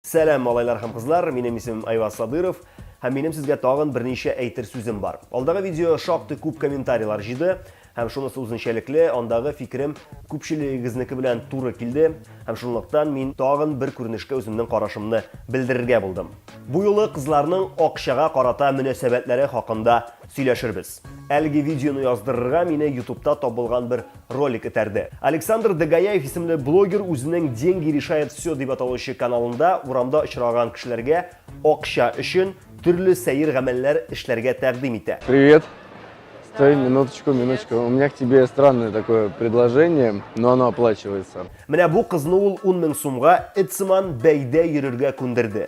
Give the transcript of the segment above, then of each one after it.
Сәлам, малайлар һәм кызлар, минем исемем Айваз Садыров, һәм минем сезгә тагын берничә әйтер сүзем бар. Алдагы видео шактый күп комментарийлар җыйды, һәм шунысы үзенчәлекле, андагы фикерем күпчелегегезнеке белән туры килде, һәм шунлыктан мин тагын бер күренешкә үземнең карашымны белдерергә булдым. Бу юлы кызларның акчага карата мөнәсәбәтләре хакында сөйләшербез. Әлеге видеоны яздырырга мине ютубта табылган бер ролик этәрде. Александр Дагаяев исемле блогер үзенең Деньги решает все дип аталучы каналында урамда очраган кешеләргә акча өчен төрле сәер гамәлләр эшләргә тәкъдим итә. Привет. Стой, минуточку, минуточку. У меня к тебе странное такое предложение, но оно оплачивается. Менә бу кызны ул 10 мең сумга эт сыман бәйдә йөрергә күндерде.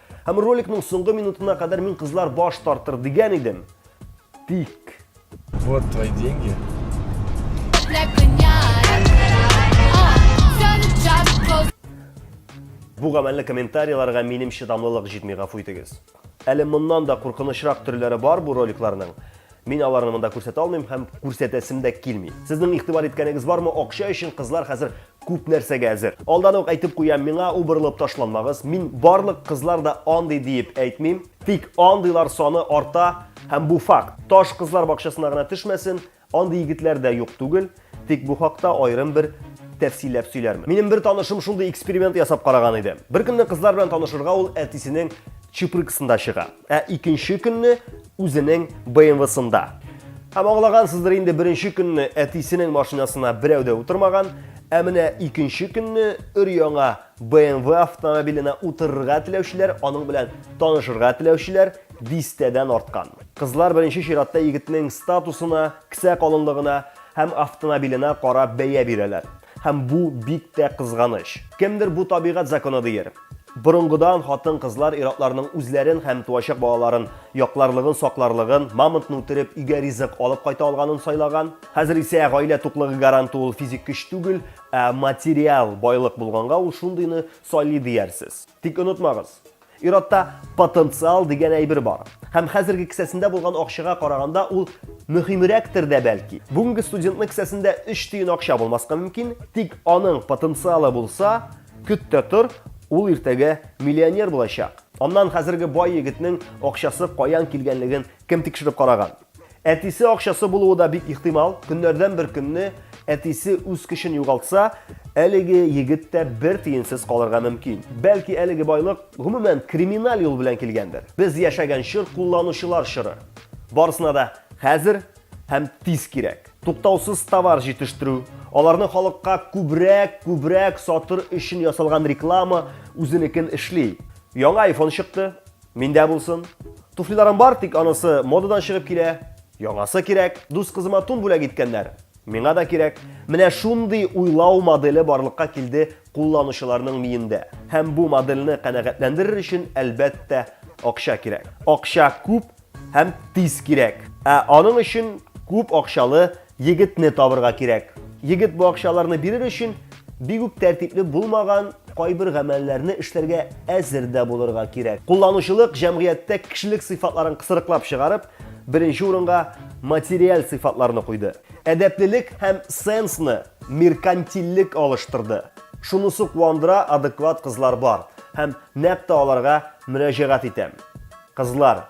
Һәм роликның соңгы минутына кадәр мин кызлар баш тартыр дигән идем. Тик. Вот твои деньги. Бу гамәлле комментарийларга минем чыдамлылык җитми, гафу итегез. Әле моннан да куркынычрак төрләре бар бу роликларның. Мин аларны монда күрсәтә алмыйм һәм күрсәтәсем дә килми. Сезнең игътибар иткәнегез бармы, акча өчен кызлар хәзер күп нәрсәгә әзер. Алдан ук әйтеп куям, миңа убырылып ташланмагыз. Мин барлык кызлар да андый диеп әйтмим. Тик андыйлар саны арта һәм бу факт. Таш кызлар бакчасына гына төшмәсен, андый егетләр дә юк түгел. Тик бу хакта аерым бер тәфсилләп сөйләрмен. Минем бер танышым шундый эксперимент ясап караган иде. Бер көнне кызлар белән танышырга ул әтисенең чупрыксында чыга, ә икенче көнне үзенең БМВсында. Һәм аңлагансыздыр инде беренче көнне әтисенең машинасына берәү дә утырмаган, ә менә икенче көнне өр-яңа БМВ автомобиленә утырырга теләүчеләр, аның белән танышырга теләүчеләр дистәдән арткан. Кызлар беренче чиратта егетнең статусына Кесә калынлыгына һәм автонабиленә карап бәя бирәләр. Һәм бу бик тә кызганыч. Кемдер бу табигать законы диер. Борынгыдан хатын-кызлар ир-атларның үзләрен һәм туачак балаларын якларлыгын, сакларлыгын, мамонтны үтереп, өйгә ризык алып кайта алганын сайлаган. Хәзер исә гаилә туклыгы гаранты ул физик көч түгел, ә материаль байлык булганга ул шундыйны сайлый диярсез. Тик онытмагыз, Ир-атта потенциал дигән әйбер бар. Һәм хәзерге кесәсендә булган акчага караганда ул мөһимрәктер дә бәлки. Бүгенге студентның кесәсендә 3 тиен акча булмаска мөмкин, тик аның потенциалы булса, көт тә тор, ул иртәгә миллионер булачак. Аннан хәзерге бай егетнең акчасы каян килгәнлеген кем тикшереп караган? Әтисе акчасы булуы да бик ихтимал. Көннәрдән бер көнне әтисе үз көчен югалтса, әлеге егет тә бер тиенсез калырга мөмкин. Бәлки әлеге байлык гомумән криминаль юл белән килгәндер. Без яшәгән чор кулланучылар чоры. Барысына да хәзер һәм тиз кирәк. Туктаусыз товар җитештерү, аларны халыкка күбрәк, күбрәк сатыр өчен ясалган реклама үзенекен эшли. Яңа iPhone чыкты, Миндә булсын. Туфлиларым бар, тик анысы модадан чыгып килә. Яңасы кирәк. Дус кызыма тун бүләк иткәннәр. Миңа да кирәк. Менә шундый уйлау моделе барлыкка килде кулланучыларның миендә. Һәм бу модельне канәгатьләндерер өчен, әлбәттә, акча кирәк. Акча күп һәм тиз кирәк. Ә аның өчен күп акчалы Егетне табырга кирәк. Егет бу акчаларны бирер өчен бик үк тәртипле булмаган кайбер гамәлләрне эшләргә әзер дә булырга кирәк. Кулланучылык җәмгыятьтә кешелек сыйфатларын кысрыклап чыгарып, беренче урынга материаль сыйфатларны куйды. Әдәплелек һәм сенсны меркантильлек алыштырды. Шунысы куандыра, адекват кызлар бар. Һәм нәкъ тә аларга мөрәҗәгать итәм. Кызлар!